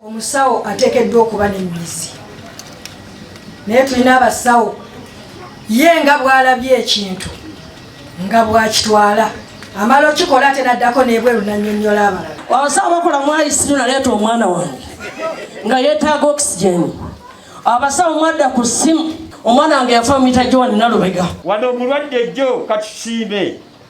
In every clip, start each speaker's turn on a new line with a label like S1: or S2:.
S1: omusawo ateekeddwa okuba n'emmizi naye tulina abasawo ye nga bw'alabye ekintu nga bw'akitwala amala okikola ate naddako n'ebweru nannyonnyola abalala abasawo bakola
S2: mwayisiru naleeta omwana wange nga yeetaaga oxygen abasawo mwadda ku ssimu omwana wange yafa mita gyowaninalubega wano omulwadde
S3: jjo katusiime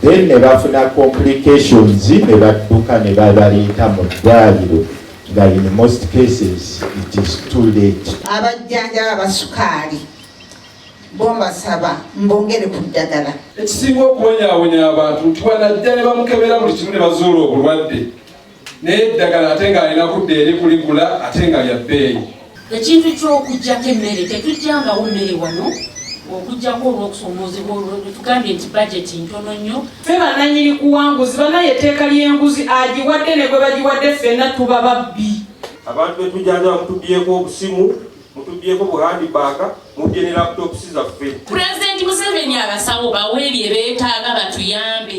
S4: then ne bafuna complications ne badduka ne babaleeta mu ddwaliro nga in most cases it is too late. Abajjanjaba
S5: basukaali bombasaba mbongere ku ddagala. Ekisinga okubonyaabonya
S6: abantu nti wanajja ne bamukebera buli kimu ne bazuula obulwadde. naye eddagala ate ng'alina kudda eri kuligula ate nga lya bbeeyi ekintu
S7: ky'okuggyako emmere tetujjangawo mmere wano okujjako olwokusoomoozebwa olwetugambye nti bajeti ntono nnyo fe bananyini
S8: kuwanguzi banaye etteeka ly'enguzi agiwadde ne gwe bagiwadde ffenna tuba babbi abantu betujanja
S9: bamutubyeko obusimu mutubyeko buhandi baaka mubye ne laptops zaffe pulezidenti museveni
S7: abasawo bawe bye beetaaga batuyambe